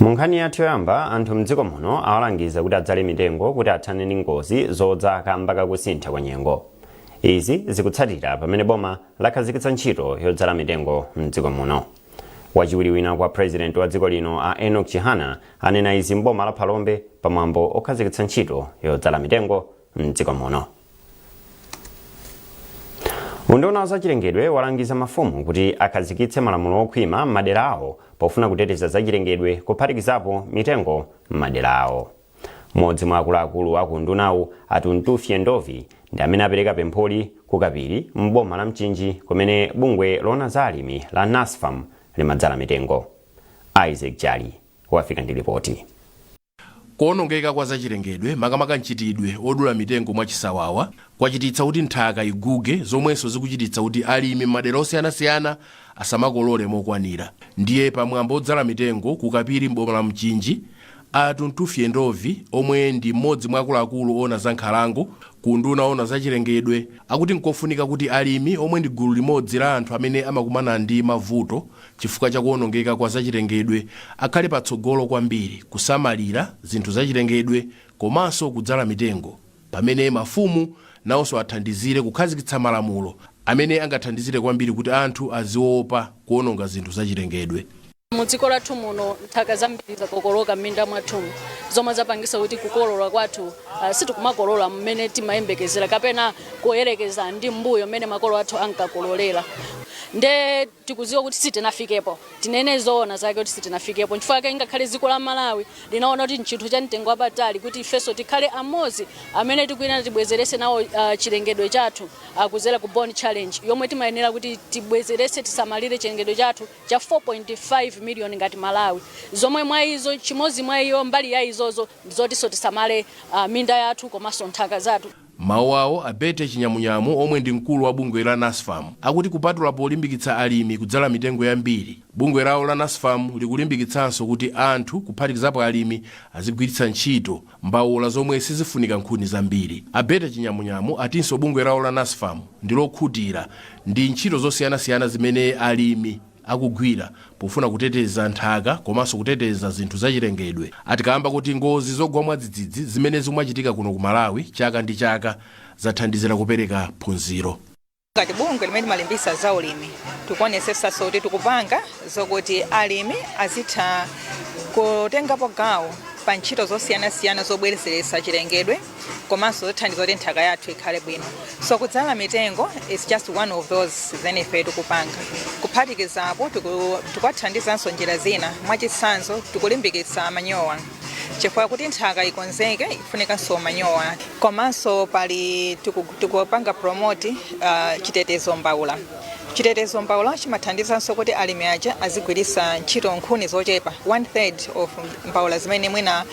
mu nkhani yathu yoyamba anthu mdziko muno awalangiza kuti adzale mitengo kuti athane ndi ngozi zodza kamba kakusintha kwa nyengo izi zikutsatira pamene boma lakhazikitsa ntchito yodzala mitengo mdziko muno wachiwiri wina kwa president wa dziko lino a enock chihana anena izi mboma la phalombe pamwambo okhazikitsa ntchito yodzala mitengo mdziko muno unduna wa zachilengedwe walangiza mafumu kuti akhazikitse malamulo okhwima m'madera awo pofuna kuteteza zachilengedwe kuphatikizapo mitengo m'madera awo mmodzi mwa akuluakulu aku undunawu a tuntufye ndovi ndi amene apereka pempholi ku kapiri m'boma la mchinji kumene bungwe loona za alimi la nasfam limadzala mitengo isaac jali wafika ndi lipoti Kuonongeka kwa zachilengedwe, makamaka mchitidwe odula mitengo mwachisawawa, kwachititsa kuti nthaka iguge zomwenso zikuchititsa kuti alimi m'madera osiyanasiyana asamakolole mokwanira. Ndiye pa mwambo odzala mitengo ku Kapiri m'boma la Mchinji, a Tuntufye Ndovi omwe ndi m'modzi mwa akuluakulu oona za nkhalango ku unduna oona zachilengedwe akuti nkofunika kuti alimi omwe ndi gulu limodzi la anthu amene amakumana ndi mavuto chifukwa cha kuwonongeka kwa zachilengedwe akhale patsogolo kwambiri kusamalira zinthu zachilengedwe komanso kudzala mitengo, pamene mafumu nawonso athandizire kukhazikitsa malamulo amene angathandizire kwambiri kuti anthu aziopa kuwononga zinthu zachilengedwe. Mu dziko lathu muno nthaka zambiri zakokoloka m'minda mwathumu zomwe zapangisa kuti kukolola kwathu sitikumakolola mmene timayembekezera kapena kuyerekeza ndi mmbuyo mmene makolo athu ankakololera. tikuziwa kuti sitinafikepo tinene zoona zake kuti sitinafikepo nchifukwa chake ngakhale dziko la malawi linaona kuti nchinthu cha mtengo wapatali kuti ifenso tikhale amodzi amene tikuyenera tibwezerese nawo uh, chilengedwe chathu uh, kuzera ku bonn challenge yomwe timayenera kuti tibwezerese tisamalire chilengedwe chathu cha 4.5 million ngati malawi zomwe mwa izo chimodzi mwa iyo mbali ya izozo ndizotinso tisamale uh, minda yathu komanso nthaka zathu M'mawu awo, a Betty Chinyamunyamu omwe ndi mkulu wa bungwe la Nasfam akuti kupatula polimbikitsa alimi kudzala mitengo yambiri, bungwe lawo la Nasfam likulimbikitsanso kuti anthu kuphatikizapo alimi azigwiritsa ntchito mbaula zomwe sizifunika nkhuni zambiri. A Betty Chinyamunyamu atinso bungwe lawo la Nasfam ndilokhutira ndi ntchito zosiyanasiyana zimene alimi. akugwira pofuna kuteteza nthaka komanso kuteteza zinthu zachilengedwe ati kaamba koti ngozi zogwa mwadzidzidzi zimene zikumachitika kuno ku Malawi chaka ndi chaka zathandizira kupereka phunziro. Ngati bungwe limene timalimbisa za ulimi tikuonesesanso kuti tikupanga zokuti alimi azitha kutengapo gawo pa ntchito zosiyanasiyana zobwerezeretsa chilengedwe komanso zothandiza kuti nthaka yathu ikhale bwino so kudzala mitengo is just one of those zimene ife tikupanga kuphatikizapo tiku- tikuwathandizanso njira zina mwachitsanzo tikulimbikitsa manyowa chifukwa kuti nthaka ikonzeke ifunikanso manyowa komanso pali tiku- tikupanga promote uh, chitetezo mbaula chitetezo mbaula chimathandizanso kuti alimi aja azigwiritsa ntchito nkhuni zochepa one third of mbaula zimene mwina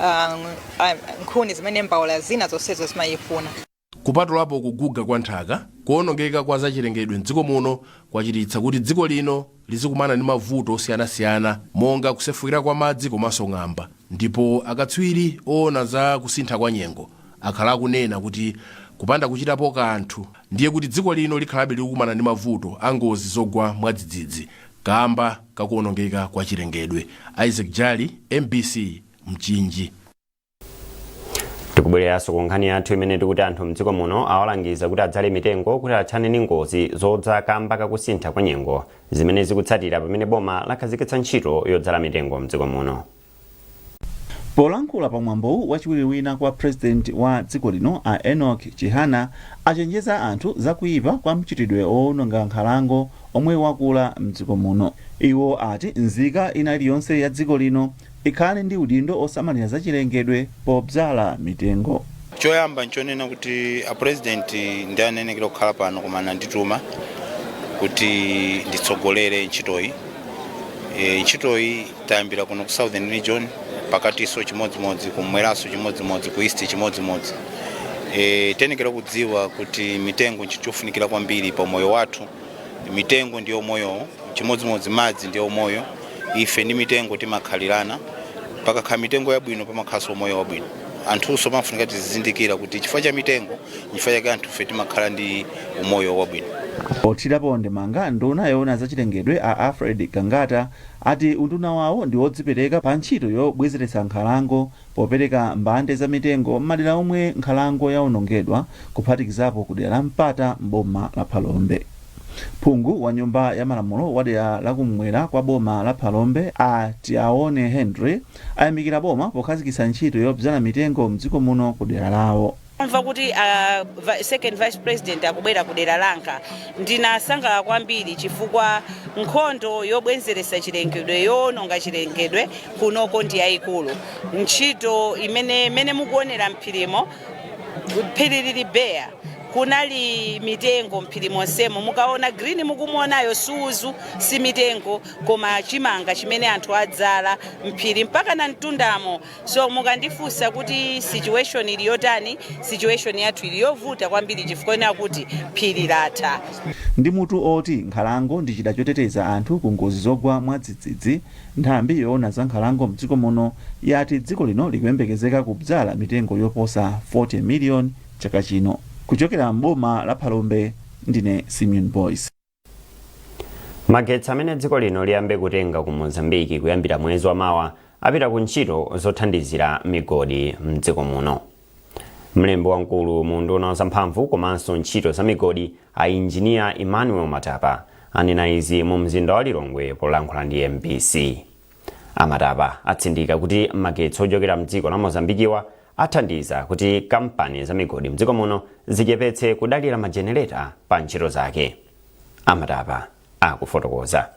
um, a, nkhuni zimene mbaula zina zonsezo zimayifuna. Kupatulapo kuguga kwa nthaka, kuonongeka kwa zachilengedwe m'dziko muno kwachititsa kuti dziko lino lizikumana ndi mavuto osiyanasiyana monga kusefukira kwa madzi komanso ng'amba ndipo akatswiri oona za kusintha kwa nyengo akhala akunena kuti kupanda kuchitapo kanthu ndiye kuti dziko lino likhalabe likukumana ndi mavuto a ngozi zogwa mwadzidzidzi kaamba ka kuonongeka kwa chilengedwe. Isaac Jali, mbc. mchinji tikubwereranso ku nkhani yathu imene tikuti anthu mdziko muno awalangiza kuti adzale mitengo kuti athane ndi ngozi zodza kamba kakusintha kwa nyengo zimene zikutsatira pamene boma lakhazikitsa ntchito yodzala mitengo mdziko muno polankhula pa mwambowu wachiwiri wina kwa president wa dziko lino a enoch chihana achenjeza anthu za kuyipa kwa mchitidwe owononga nkhalango omwe wakula mdziko muno iwo ati nzika ina iliyonse ya dziko lino Ikhale ndi udindo osamalira zachilengedwe podzala mitengo. Choyamba nchonena kuti a President ndi anenekera kukhala pano koma andituma kuti nditsogolere ntchitoyi. E, ntchitoyi tayambira kuno ku Southern Region pakatiso chimodzimodzi, kummweraso chimodzimodzi, ku East chimodzimodzi. E, tenekera kudziwa kuti mitengo nchinthu chofunikira kwambiri pa umoyo wathu. mitengo ndiye umoyowo chimodzimodzi madzi ndiye umoyo ife ndi mitengo timakhalirana pakakhala mitengo yabwino pamakhalanso umoyo wabwino anthunso pamafunika tizizindikira kuti chifukwa cha mitengo chifukwa chake anthufe timakhala ndi umoyo wabwino pothirapo ndemanga nduna yoona zachilengedwe a alfred gangata ati unduna wawo ndi wodzipereka pa ntchito yobwezeretsa nkhalango Popereka mbande za mitengo m'madera omwe nkhalango yaonongedwa kuphatikizapo ku dera la Mpata m'boma la Phalombe. Phungu wa nyumba ya malamulo wa dera la kum'mwera kwa boma la Phalombe a Tiaone Henry ayamikira boma pokhazikitsa ntchito yobzala mitengo mdziko muno ku dera lawo. Kumva kuti a vi- second vice president akubwera ku dera langa ndinasangalala kwambiri chifukwa nkhondo yobwenzeretsa chilengedwe yoononga chilengedwe kunoko ndi yayikulu ntchito imene imene mukuonera mphirimo phiri lili beya kunali mitengo mphiri monsemo mukaona green mukumuonayo suzu si mitengo koma chimanga chimene anthu adzala mphiri mpakana mtundamo so mukandifunsa kuti situation ili yotani situation yathu ili yovuta kwambiri chifukwa ina kuti phiri latha ndi mutu oti nkhalango ndi chida choteteza anthu ku ngozi zogwa mwadzidzidzi nthambi yoona za nkhalango mdziko muno yati dziko lino likuyembekezeka kudzala mitengo yoposa 40 miliyoni chaka chino kuchokera mboma la phalombe ndine simeon boys magetsi amene dziko lino liyambe kutenga ku mozambiki kuyambira mwezi wa mawa apita ku ntchito zothandizira migodi mdziko muno mlembi wamkulu mu unduna wa zamphamvu komanso ntchito za migodi a injiniya emmanuel matapa anena izi mu mzinda wa lilongwe polankhula ndi mbc A Matapa atsindika kuti magetsi ochokera mdziko la Mozambikiwa athandiza kuti kampani za migodi mdziko muno zichepetse kudalira ma generator pa ntchito zake. A Matapa akufotokoza.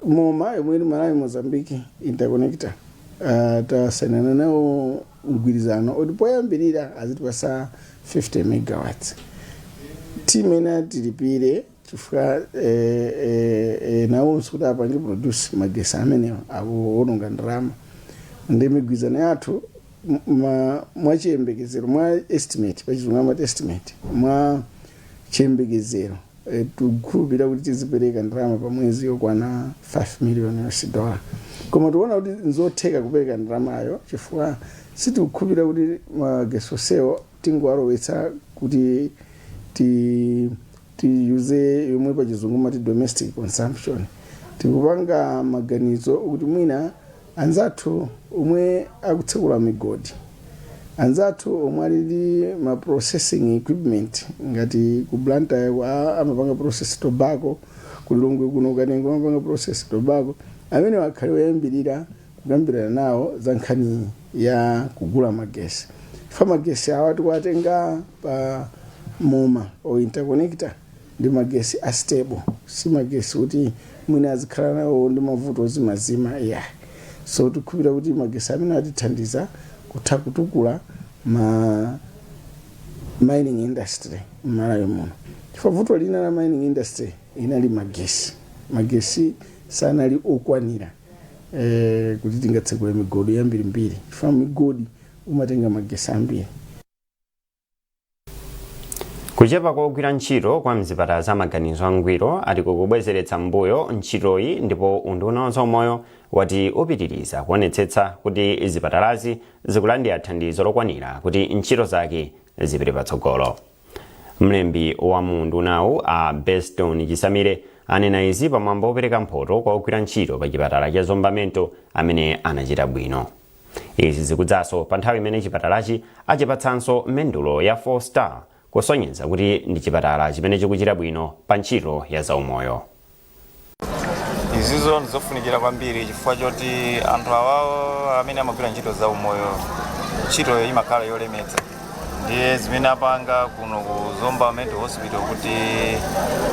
moma yomwe ili malawi mozambique interconnector uh, tasainana nawo mgwirizano oti poyambirira azitipasa 50 megawatts timene tilipire chifukwa nawonso kuti apange produce magesi amenewa akuwononga ndalama ndi migwirizano yathu mwa chiyembekezero mwa estimate pachizungu amati estimate mwa chiyembekezero tikukhulupirira kuti tizipereka ndalama pa mwezi yokwana 5 million us dollar koma tiona kuti nzotheka kupereka ndalamayo chifukwa sitikukhulupirira kuti magesi onsewo tingowalowetsa kuti ti tiyuze yomwe pa chizungu amati domestic consumption tikupanga maganizo kuti mwina anzathu omwe akutsekula migodi anzathu omwe ali ndi ma processing equipment ngati ku blantyre kwa- amapanga process tobacco ku lilongwe kuno kanengo amapanga process tobacco amenewa akhale oyambirira kukambirana nawo za nkhani ya kugula magesi fa magesi awa tikuwatenga pa moma o interconnector ndi magesi a stable si magesi kuti mwina azikhala nawo ndi mavuto ozimazima ya so tikukhulupira kuti magesi amenewa atithandiza kutha kutukula ma mining industry mmalawi muno chifukwa vuto lina la mining industry inali magesi magesi sanali okwanira eh, kuti tingatsekule migodi yambirimbiri chifukwa migodi imatenga magesi ambiri kuchepa kwa ogwira ntchito kwa mzipatala za maganizo angwiro ati kukubwezeretsa mbuyo ntchitoyi ndipo unduna wa zaumoyo wati upitiriza kuonetsetsa kuti zipatalazi zikulandira thandizo lokwanira kuti ntchito zake zipite patsogolo mlembi wa mu undunawu a beston chisamile anena izi pamwambo wopereka mphoto kwa ogwira ntchito pa chipatala cha zomba mental amene anachita bwino izi zikudzanso pa nthawi imene chipatalachi achipatsanso mendulo ya 4 star kusonyeza kuti ndi chipatala chimene chikuchita bwino pa ntchito ya zaumoyo izizo ndizofunikira kwambiri chifukwa choti anthu awawo amene amagwira ntchito za umoyo ntchitoyo imakhala yolemetsa ndiye zimene apanga kuno ku zomba mental hospital kuti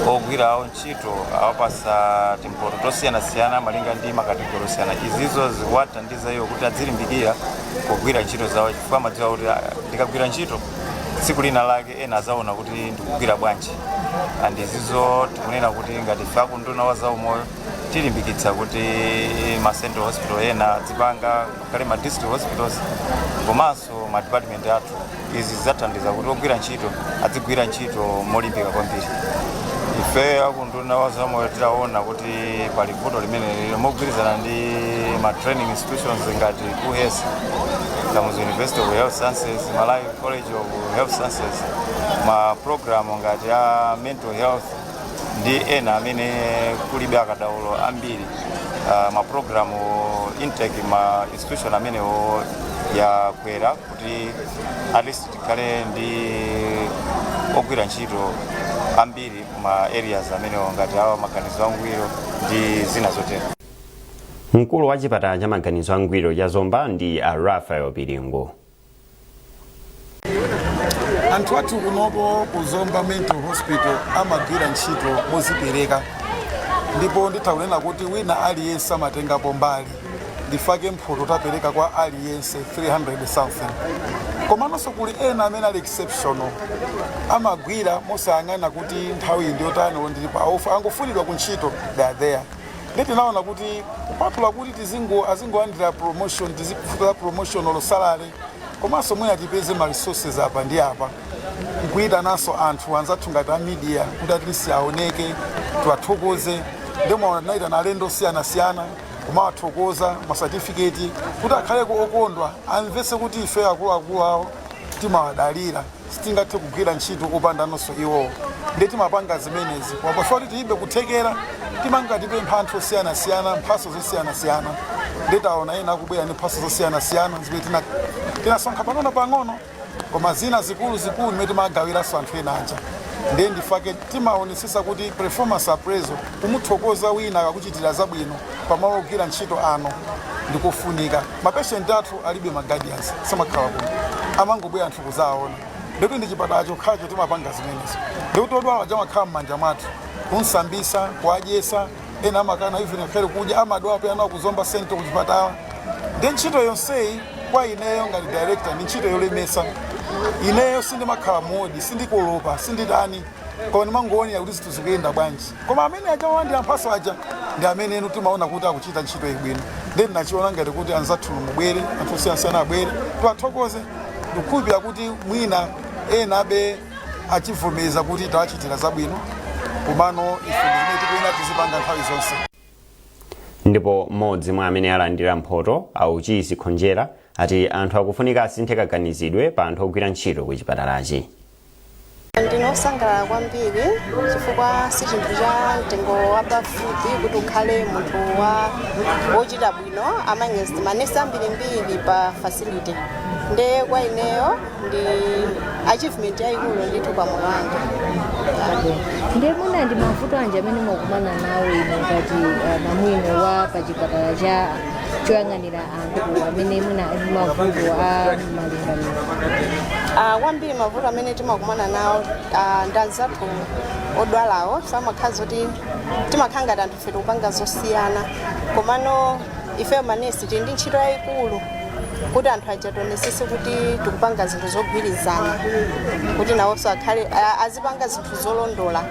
ogwira awo ntchito awapatsa timphoto tosiyanasiyana malinga ndi makategori osiyana izizo zikuwathandiza iwo kuti adzilimbikira kugwira ntchito zawo chifukwa amadziwa kuti "Ah, ndikagwira ntchito tsiku lina lake ena adzaona kuti ndikugwira bwanji and izizo tikunena kuti ngati ife akunduna wa zaumoyo tilimbikitsa kuti ma central hospital ena adzipanga ngakhale ma district hospitals komanso ma department athu izi zidzathandiza kuti ogwira ntchito adzigwira ntchito molimbika kwambiri ife akunduna wa zaumoyo titaona kuti pali vuto limeneli mogwirizana ndi ma training institutions ngati kuhes kamuzu university of health sciences malawi College of Health Sciences ma program ngati a mental health ndi ena amene kulibe akadaulo ambiri uh, ma program intake ma institution amenewo yakwera kuti at least tikhale ndi ogwira ntchito ambiri ma areas amenewo ngati a wa maganizo angwiro ndi zina zotero mkulu wa chipatala cha maganizo angwiro cha zomba ndi a raphael piringu anthu athu kunopo ku zomba mental hospital amagwira ntchito mozipereka ndipo nditha kunena kuti wina aliyense amatengapo mbali ndifake mphoto tapereka kwa aliyense 300 something komanso kuli ena amene ali exceptional amagwira mosayang'ana kuti nthawi ndiyotani olo ali pa off akangofunidwa ku ntchito they are there ndi tinaona kuti kupatula kuti tizingo azingolandira promotion tizikufika promotion or salary komanso mwina tipeze ma resources apa ndi apa nkuyitananso anthu anzathu ngati a media kuti at least aoneke tiwathokoze nde mwaona tinayitana alendo osiyanasiyana kumawathokoza ma satifiketi kuti akhaleko okondwa amvese kuti ife akuluakulu awo timawadalira Sitingathe kugwira ntchito opandanso iwowo nde timapanga zimenezi koma pachifukwa kuti tilibe kuthekera timangopempha anthu osiyanasiyana mphatso zosiyanasiyana nde taona ena akubwera ndi mphatso zosiyanasiyana zimene tina tinasonkha pang'ono pang'ono koma zina zikulu zikulu zimene timagawiranso anthu ena aja nde ndifake timaonetsetsa kuti performance appraisal kumuthokoza wina akakuchitira zabwino pamalo ogwira ntchito anu ndikofunika. ma patient athu alibe ma guardians samakhala kuno amangobwera anthu kuzawaona ndikuti ndi chipatala chokhacho timapanga zimenezo ndikuti odwala aja amakhala m'manja mwathu kumsambisa kuwadyesa ena amakana even akhale kudya amadwala pena nawo ku Zomba Central kuchipatala nde ntchito yonseyi kwa ineyo ngati director ndi ntchito yolemesa ineyo sindimakhala modi sindikolopa sinditani koma ndimangoonera kuti zinthu zikuyenda bwanji koma amene aja olandira mphaso aja ndi amene enu timaona kuti akuchita ntchito yabwino nde ndinachiona ngati kuti anzathu mubwere anthu osiyanasiyana abwere tiwathokoze ndikukhulupirira kuti mwina ena abe achivomereza kuti tawachitira zabwino komano ife ndizimene tikuyenera tizipanga nthawi zonse ndipo mmodzi mwa amene alandira mphoto auchisi khonjera ati anthu akufunika asinthe kaganizidwe pa anthu ogwira ntchito ku chipatalachi Ndine osangalala kwambiri chifukwa si chinthu cha mtengo wapafupi kuti ukhale munthu wa wochita bwino among manesi ambirimbiri pa facility nde kwa ineyo ndi achievement yayikulu ndithu pa moyo wanga ndiye mwina ndi mavuto anji amene mumakumana nawo inu ngati uh, namwino wa pa chipatala cha choyang'anira anthu amene mwina ali ndi mavuto a malingaliro Ah, kwambiri mavuto amene timakumana nawo ah, ndi anzathu odwalawo sometimes zoti timakhala ngati anthu ife tikupanga zosiyana komano ifeyo manesi tili ndi ntchito yayikulu kuti anthu aja tionetsetse kuti tikupanga zinthu zogwirizana kuti nawonso akhale a- azipanga zinthu zolondola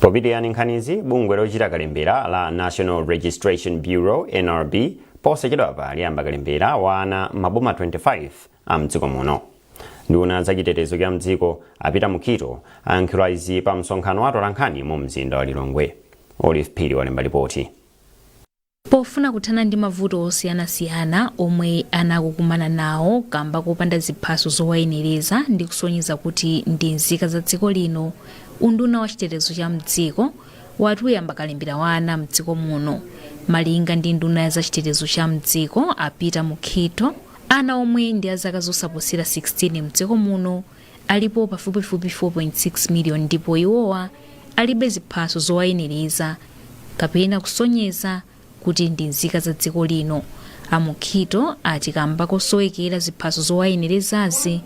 popitiriza nkhanizi bungwe lochita kalembera la national registration bureau nrb posachedwapa liyamba kalembera wa ana mmaboma 25 a mdziko muno nduna ya za chitetezo cha mdziko a peter mukhito ayankhula izi pa msonkhano wa atolankhani mu mzinda wa lilongwe olive phiri walemba lipoti Pofuna kuthana ndi mavuto osiyanasiyana omwe ana akukumana nawo kamba kopanda ziphaso zowayenereza ndi kusonyeza kuti ndi nzika za dziko lino, unduna wa chitetezo cha m'dziko wati uyamba kalembera wa ana m'dziko muno. Malinga ndi nduna ya za chitetezo cha m'dziko a Peter Mukhito, ana omwe ndi a zaka zosaposera 16 m'dziko muno, alipo pafupifupi 4.6 miliyoni ndipo iwowa alibe ziphaso zowayenereza kapena kusonyeza kuti ndi nzika za dziko lino. A Mukhito ati kamba kosowekera ziphaso zowayenerezazi,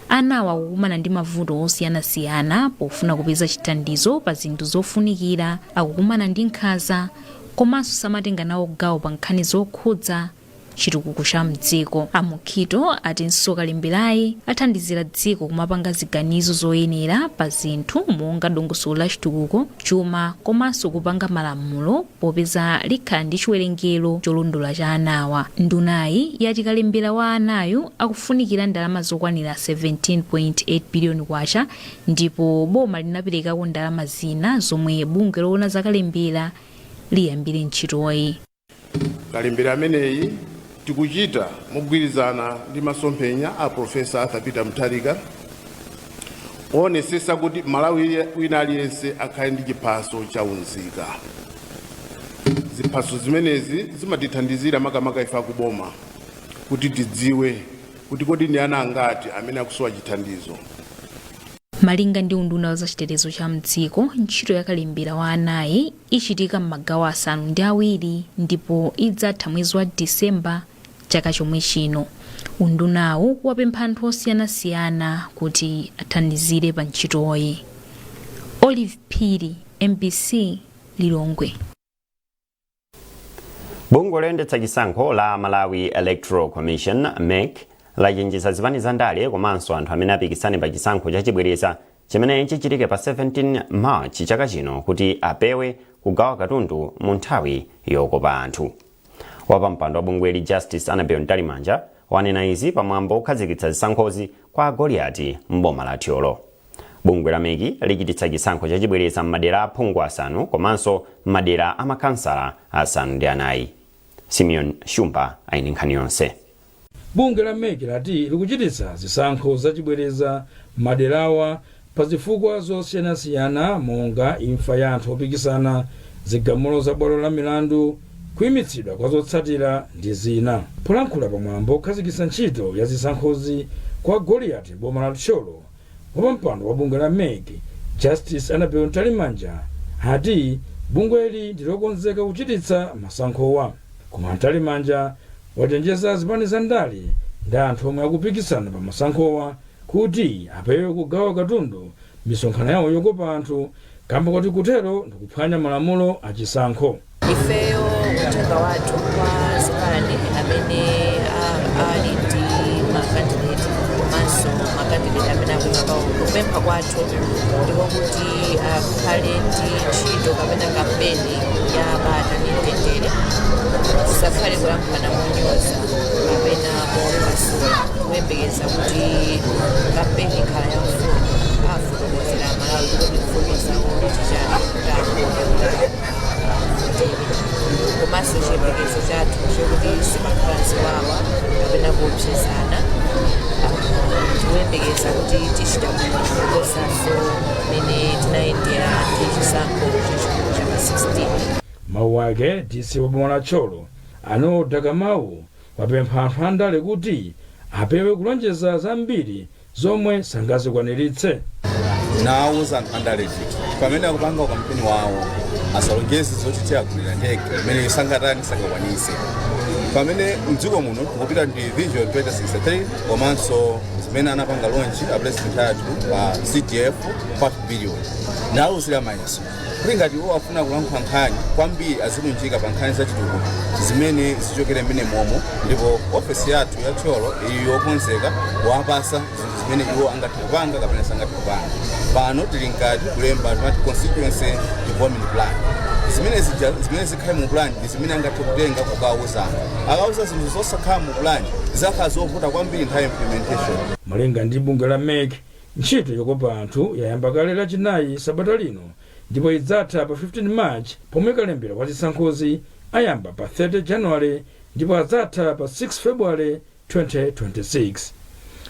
anawa akukumana ndi mavuto osiyanasiyana pofuna kupeza chithandizo pa zinthu zofunikira, akukumana ndi nkhanza komanso samatenga nawo gawo pa nkhani zokhudza chitukuko cha mdziko. A Mukhito atinso kalemberayi athandizira dziko kumapanga ziganizo zoyenera pa zinthu monga dongosolo la chitukuko, chuma komanso kupanga malamulo popeza likhala ndi chiwerengero cholondola cha anawa. Ndunayi yati kalembera wa anayu akufunikira ndalama zokwanira 17.8 biliyoni kwacha ndipo boma linaperekako ndalama zina zomwe bungwe loona za kalembera liyambire ntchitoyi. kalembera ameneyi tikuchita mogwirizana ndi masomphenya a profesa arthur peter mutharika owonetsetsa kuti malawi wina aliyense akhale ndi chiphaso cha unzika ziphaso zimenezi zimatithandizira makamaka ife akuboma kuti tidziwe kuti kodi ndi ana angati amene akusowa chithandizo malinga ndi unduna wa zachitetezo cha mdziko ntchito ya kalembera wa anayi ichitika m'magawo asanu ndi awiri ndipo idzatha mwezi wa December chaka chomwe chino. Undunawu wapempha anthu osiyanasiyana kuti athandizire pa ntchitoyi. Olive Phiri, mbc Lilongwe. Bungwe loyendetsa chisankho la Malawi Electoral Commission, mec, lachenjeza zipani za ndale komanso anthu amene apikisane pa chisankho chachibwereza chimene chichitike pa 17 March chaka chino kuti apewe kugawa katundu mu nthawi yokopa anthu. Wapampando wa bungweli Justice Annabel Mtalimanja wanena izi pamwambo okhazikitsa zisankhozi kwa Goliati m'boma la Thyolo. Bungwe la mec lichititsa chisankho chachibwereza m'madera a phungu asanu komanso m'madera a makhansala asanu ndi anayi. Simeon Shumba ali ndi nkhani yonse. Bungwe la mec lati likuchititsa zisankho zachibwereza m'maderawa pa zifukwa zosiyanasiyana monga imfa ya anthu opikisana, zigamulo za bwalo la milandu, kuimitsidwa kwa zotsatira ndi zina. Polankhula pa mwambo okhazikitsa ntchito ya zisankhozi kwa Goliati m'boma la Thyolo, Wapampando wa bungwe la mec, Justice Annabel Mtalimanja, ati bungweli ndi lokonzeka kuchititsa masankhowa. Koma Mtalimanja wachenjeza zipani za ndale ndi anthu omwe akupikisana pa masankhowa kuti apewe kugawa katundu m'misonkhano yawo yokopa anthu kamba kuti kutero ndikuphwanya malamulo a chisankho. ifeyo uthenga wathu kwa zipani amene a- ali ndi makandideti komanso makandideti amene akuyima pawo kupempha kwathu ndiko kuti akhale ndi ntchito kapena kampeni ya bata ndi mtendere sakhale kulankhulana monyoza kapena kuwapasula kuyembekeza kuti kampeni ikhala ya mfundo afotokozere amalawi kuti mfundo zawo ndi chani kuti akhale komanso chiyembekezo chathu chokuti sipakhala ziwawa kapena kuopsezana tikuyembekeza kuti tichita bwino kuposanso mmene tinayendera ndi chisankho chachikulu cha pa 16 mawu ake dc wa boma la thyolo a noel dakamau wapempha anthu andale kuti apewe kulonjeza zambiri zomwe sangazikwaniritse. Ndawauza anthu andale kuti pamene akupanga ukampeni wawo asalonjeze zoti tiyagulira ndege imene sangatani sangakwanitse pamene mdziko muno tikupita ndi vision 2063 komanso zimene anapanga lonchi a president athu pa cdf 5 billion ndawauzira ma ESO kuti ngati iwo afuna kulankhula nkhani kwambiri azilunjika pa nkhani zachitukuko zimene zichokere mmene momo ndipo ofesi yathu ya thyolo ili yokonzeka kuwapasa zinthu zimene iwo angathe kupanga kapena sangathe kupanga pano tili mkati kulemba tima constituency development plan zimene zija- zimene zikhale mu plan ndi zimene angathe kutenga kukawuza anthu akawuza zinthu zosakhala mu plan zidzakhala zovuta kwambiri nthawi ya implementation malinga ndi bungwe la mec Ntchito yokopa anthu yayamba kale lachinayi sabata lino ndipo idzatha pa 15 March pomwe kalembera wa zisankhozi ayamba pa 30 January ndipo adzatha pa 6 February 2026.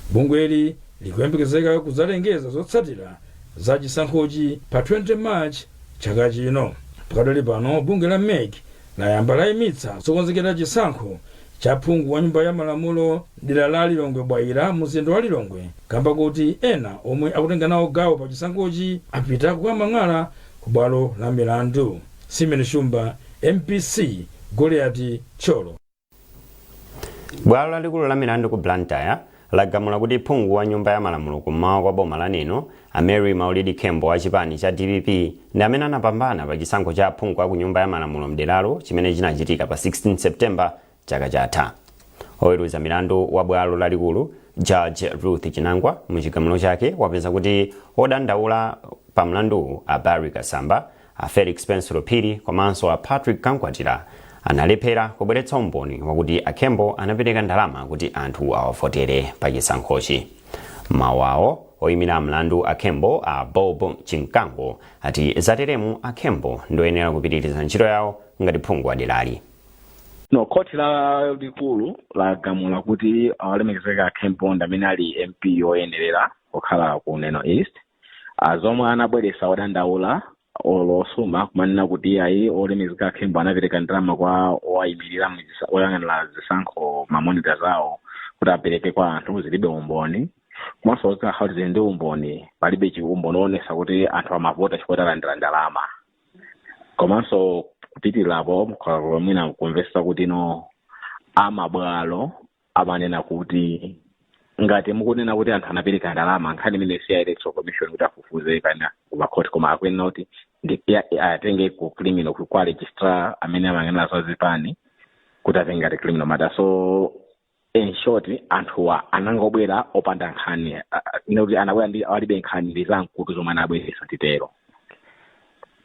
Bungweli likuyembekezeka kudzalengeza zotsatira za chisankhochi pa 20 March chaka chino. Pakadali pano bungwe la mec layamba layimitsa zokonzekera chisankho cha phungu wa nyumba ya malamulo mdera la Lilongwe Bwaila munzinda wa Lilongwe kamba koti ena omwe akutenga nawo gawo pa chisankhochi apita kukamang'ala ku bwalo la milandu. Simeon Shumba, mbc, Goliati, Thyolo. bwalo lalikulu la milandu ku blantyre lagamula kuti phungu wa nyumba ya malamulo kummawa kwa boma la neno a mary maulidi khembo wa chipani cha dpp ndi amene anapambana pa chisankho cha aphungu a ku nyumba ya malamulo mderalo chimene chinachitika pa 16 september chaka chatha oweruza milandu wa bwalo lalikulu judge ruth chinangwa mu chigamulo chake wapeza kuti odandaula pa mlanduwu a barry kasamba A Felix Pensulo Phiri komanso a Patrick Kankwatira analephera kubweretsa umboni wakuti a Khembo anapereka ndalama kuti anthu awavotere pa chisankhochi. Mawu awo oyimira mlandu a Khembo a Bob Chimkango ati zateremu a Khembo ndoyenera kupitiriza ntchito yawo ngati phungu wa derali. no khoti lalikulu lagamula kuti olemekezeka a Khembo ndi amene ali mp yoyenerera kukhala ku neno east a zomwe anabweresa odandaula olo osuma kumanena kuti ayi olemekezeka a Khembo anapereka ndalama kwa owayimirira mu zisa- oyang'anira zisankho mamonita zawo kuti apereke kwa anthu zilibe umboni komanso kuti akhala zili ndi umboni palibe chiumboni oonesa kuti anthu amavota chifukwa alandira ndalama komanso kupitirapo mwina kumvesa kuti no amabwalo amanena kuti ngati mukunena kuti anthu anapereka ndalama nkhani imeneyo si ya electoral commission kuti afufuze kana kumakhoti koma akuyenera kuti ndi- ya- ya- atenge ku criminal ku- kwa registrar amene amayang'anira za zipani kuti atenge ngati criminal matter so in short anthuwa anangobwera opanda nkhani a- a- ine kuti anabwera ndi alibe nkhani ndi za mkutu zomwe anabweresa titero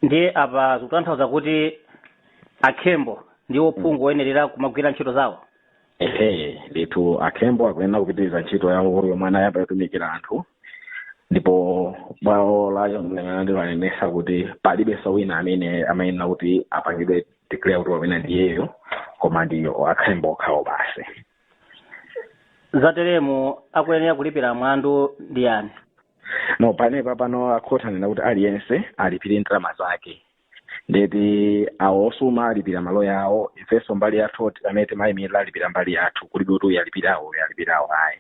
ndiye apa zikutanthauza kuti a Khembo ndiwo phungu woyenerera kumagwira ntchito zawo ehe ndithu a Khembo akuyenera kupitiriza ntchito yawo yomwe anayamba yotumikira anthu ndipo bwalo la milandu lanenesa kuti palibenso wina amene amayenera kuti apangidwe declare kuti wawina ndi uyo koma ndi a Khembo okhawo basi zateremu akuyenera kulipira mlandu ndi ndani no panepa pano akhoti anena kuti aliyense alipire ndalama zake ndeti awo osuma alipira maloya awo ifenso mbali yathu amene timayimirira alipira mbali yathu kulibe kuti uyu alipira awo uyu alipira awo ayi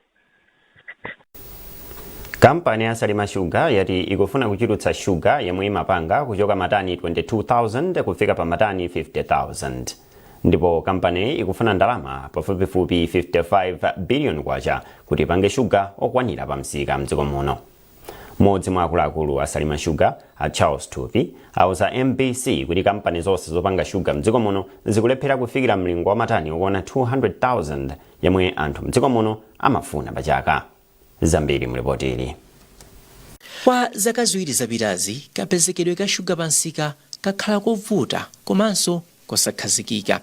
kampani ya salima shuga yati ikufuna kuchulutsa shuga yomwe imapanga kuchoka matani 22000 kufika pa matani 50000 ndipo kampaniyi ikufuna ndalama pafupifupi 55 biliyoni kwacha kuti ipange shuga okwanira pa msika mdziko muno M'modzi mwa akuluakulu a Salima Sugar, a Charles Thupi, auza MBC kuti kampani zonse zopanga shuga mdziko muno zikulephera kufikira mlingo wa matani okwana 200,000 yemwe anthu mdziko muno amafuna pa chaka. Zambiri mu lipotili. Kwa zaka ziwiri zapitazi, kapezekedwe ka shuga pa msika kakhala kovuta komanso kosakhazikika.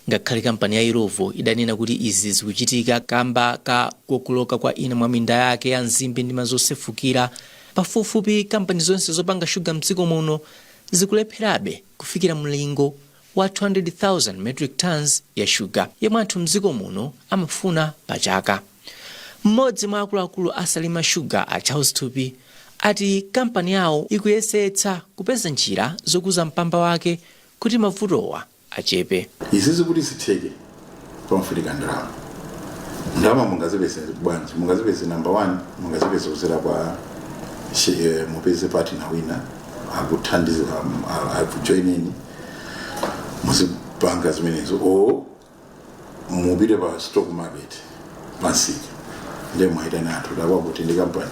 Ngakhale kampani ya Illovo idanena kuti izi zikuchitika kamba ka kokoloka kwa ina mwa minda yake ya nzimbe ndi madzi osefukira, pafupifupi kampani zonse zopanga shuga m'dziko muno zikulepherabe kufikira mlingo wa 200,000 metric tonnes ya shuga yemwe anthu m'dziko muno amafuna pa chaka. M'modzi mwa akuluakulu a Salima Sugar a Charles Thupi ati kampani yawo ikuyesetsa kupeza njira zokuza mpamba wake kuti mavutowa achepe. Izizi kuti zitheke pamafunika ndalama. Ndalama mungazipeze bwanji? Mungazipeze number one, mungazipeze kudzera kwa mupeze partner wina akuthandiza akujoineni muzipanga zimenezo or mupite pa stock market pamsika nde mwaitana anthu takwa kuti ndi kampani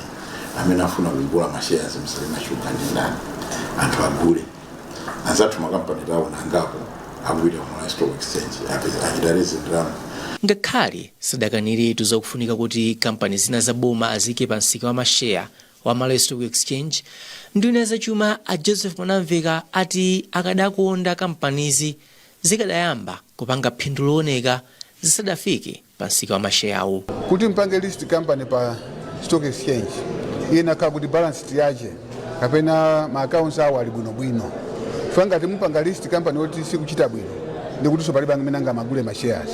amene afuna kugula mashares mSalima Sugar ndi ndani anthu agule anzathu makampani tawo nangapo akupita ku malawi stock exchange ape- achita raise ndalama ngakhale sadakaniretu zakufunika kuti kampani zina za boma aziike pa msika wa masheya wa malawi stock exchange nduna ya zachuma a joseph mwanamveka ati akadakonda kampanizi zikadayamba kupanga phindu looneka zisadafike pa msika wa masheyawu. Kuti mpange list company pa stock exchange iyenera kukhala kuti balance sheet yache kapena ma accounts awo ali bwino bwino. Chifukwa ngati mupanga list company yoti sikuchita bwino ndi kutinso palibe amene angamagule ma shares.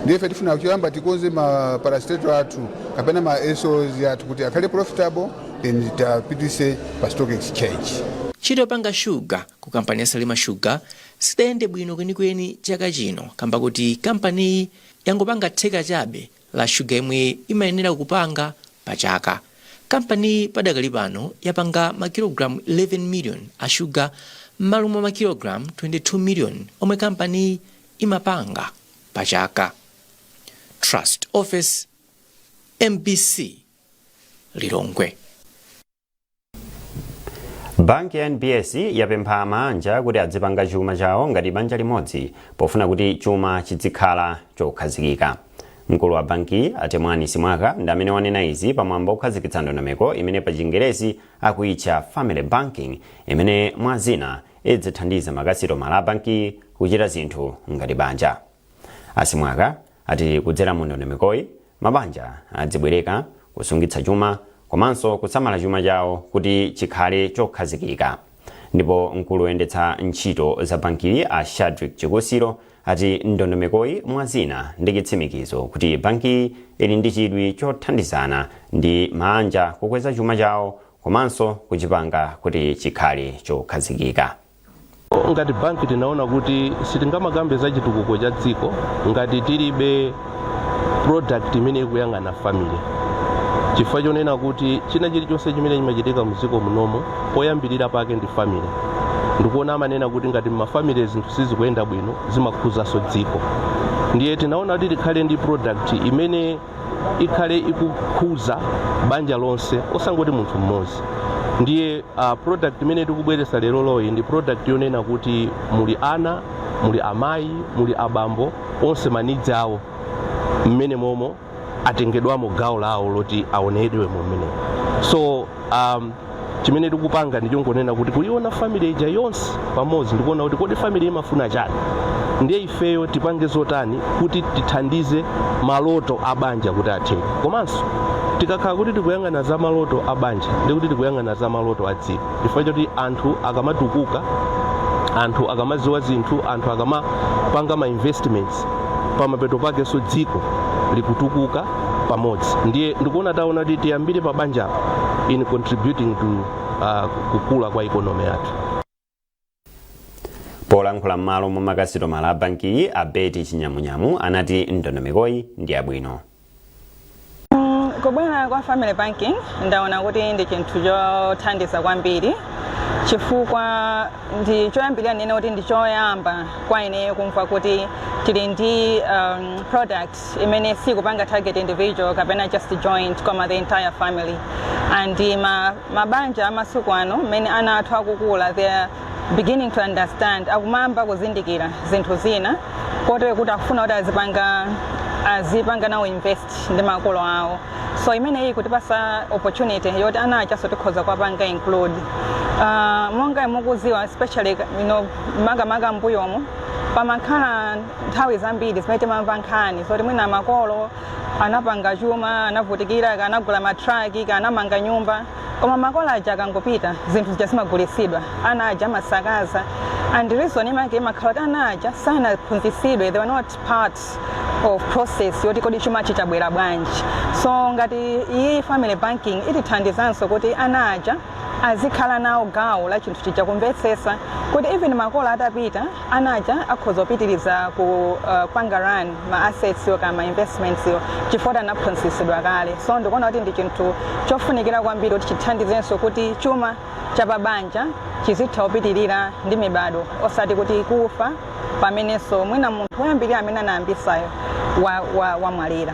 Ndiye ife tifuna choyamba tikonze ma parastatal athu kapena ma SOs athu kuti akhale profitable then tiapititse pa stock exchange. Ntchito yopanga shuga ku kampani ya Salima Sugar sidayende bwino kwenikweni chaka chino kamba koti kampaniyi yangopanga theka chabe la shuga yemwe imayenera kupanga pa chaka. Kampaniyi padakali pano yapanga makilogalamu 11 million a shuga mmalo mwa makilogalamu 22 million omwe kampaniyi imapanga pa chaka. Trust Ofesi, mbc, Lilongwe. banki ya nbs yapempha maanja kuti adzipanga chuma chawo ngati banja limodzi pofuna kuti chuma chidzikhala chokhazikika mkulu wa bankiyi a temwani simwaka ndi amene wanena izi pamwambo okhazikitsa ndondomeko imene pa chingerezi akuitcha family banking imene mwa zina idzithandiza makasitomala a bankiyi kuchita zinthu ngati banja a simwaka ati kudzera mu ndondomekoyi, mabanja adzibwereka, kusungitsa chuma komanso kusamala chuma chawo kuti chikhale chokhazikika. Ndipo mkulu woyendetsa ntchito za bankiyi a Shadrick Chikusiro ati ndondomekoyi mwa zina ndi chitsimikizo kuti bankiyi ili ndi chidwi chothandizana ndi maanja kukweza chuma chawo komanso kuchipanga kuti chikhale chokhazikika. ngati banki tinaona kuti sitingamakambe za chitukuko cha dziko ngati tilibe product imene ikuyang'ana family chifukwa chonena kuti china chilichonse chimene chimachitika mdziko munomo poyambirira pake ndi family ndikuona amanena kuti ngati mmafamily zinthu sizikuyenda bwino zimakhuzanso dziko ndiye tinaona kuti tikhale ndi product imene ikhale ikukhuza banja lonse osangoti munthu mmodzi ndiye uh, product imene tikubweretsa leroloyi ndi product yonena kuti muli ana muli amayi muli abambo onse ma needs awo mmene momo atengedwamo gawo lawo loti aonedwe mmene so um, chimene tikupanga ndi chongonena kuti kuiona family ija yonse pamodzi ndikuona kuti kodi family imafuna chani ndiye ifeyo tipange zotani kuti tithandize maloto a banja kuti atheke komanso tikakhala kuti tikuyang'ana za maloto a banja ndi kuti tikuyang'ana za maloto a dziko chifukwa choti anthu akamatukuka anthu akamadziwa zinthu anthu akamapanga ma investments pamapeto pakenso dziko likutukuka pamodzi ndiye ndikuona taona kuti tiyambire pa banjapo in contributing to uh, kukula kwa ikonomi yathu polankhula m'malo mwa makasitomala a bankiyi a betty chinyamunyamu anati ndondomekoyi ndi yabwino kubwera kwa family banking ndaona kuti ndi chinthu chothandiza kwambiri chifukwa ndi choyambirira ndinene kuti ndi choyamba kwa ineyo kumva kuti tili ndi um, product imene sikupanga target individual kapena just joint koma the entire family and ma, mabanja amasiku ano mmene ana athu akukula they are beginning to understand akumayamba kuzindikira zinthu zina kotero kuti akufuna kuti azipanga azipanga nawo invest ndi makolo awo so imeneyi ikutipasa opportunity yoti ana ajanso tikhoza kuwapanga include uh, monga mukuziwa especially you know, makamaka m'mbuyomo pamakhala nthawi zambiri zimene timamva nkhani zoti mwina makolo anapanga chuma anavutikira anagula matraki anamanga nyumba koma makolo aja akangopita zinthu zija zimagulitsidwa ana aja amasakaza and reason imake imakhala kuti ana aja sanaphunzitsidwe they were not part of process yoti kodi chumachi chabwera bwanji so ngati iyi family banking itithandizanso kuti ana aja azikhala nawo gawo la chinthu chija kumvetsetsa kuti even makolo atapita ana aja akhoza kupitiriza ku uh, panga run ma assets yo kapena ma investments yo chifukwa choti anaphunzitsidwa kale so ndikuona kuti ndi chinthu chofunikira kwambiri kuti chithandizenso kuti chuma cha pabanja chizitha kupitirira ndi mibado osati kuti kufa pamenenso mwina munthu woyambirira amene anayambisayo wamwalira wa, wa wamwalira.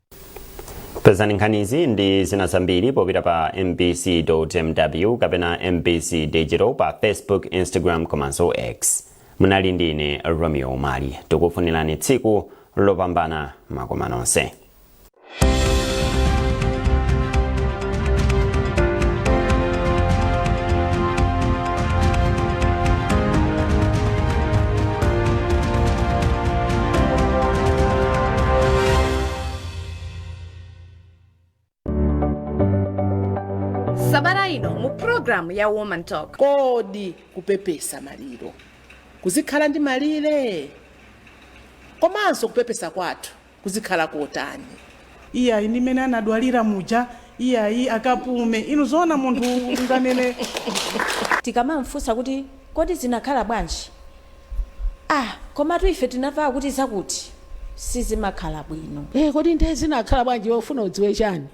pezani nkhanizi ndi zina zambiri popita pa mbc mw kapena mbc digital pa facebook instagram komanso x munali ndi ine romeo umali tikufunirani tsiku lopambana makoma nonse sabata ino mu programu ya woman talk kodi kupepesa maliro kuzikhala ndi malire komanso kupepesa kwathu kuzikhala kotani. iyayi ndi mmene anadwalira muja, iyayi akapume. Inu zoona munthu unganene. Tikamamfunsa kuti kodi zinakhala bwanji, ah komatu ife tinamva kuti zakuti, sizimakhala bwino. Eh kodi nde zinakhala bwanji iwe ufuna udziwe chani?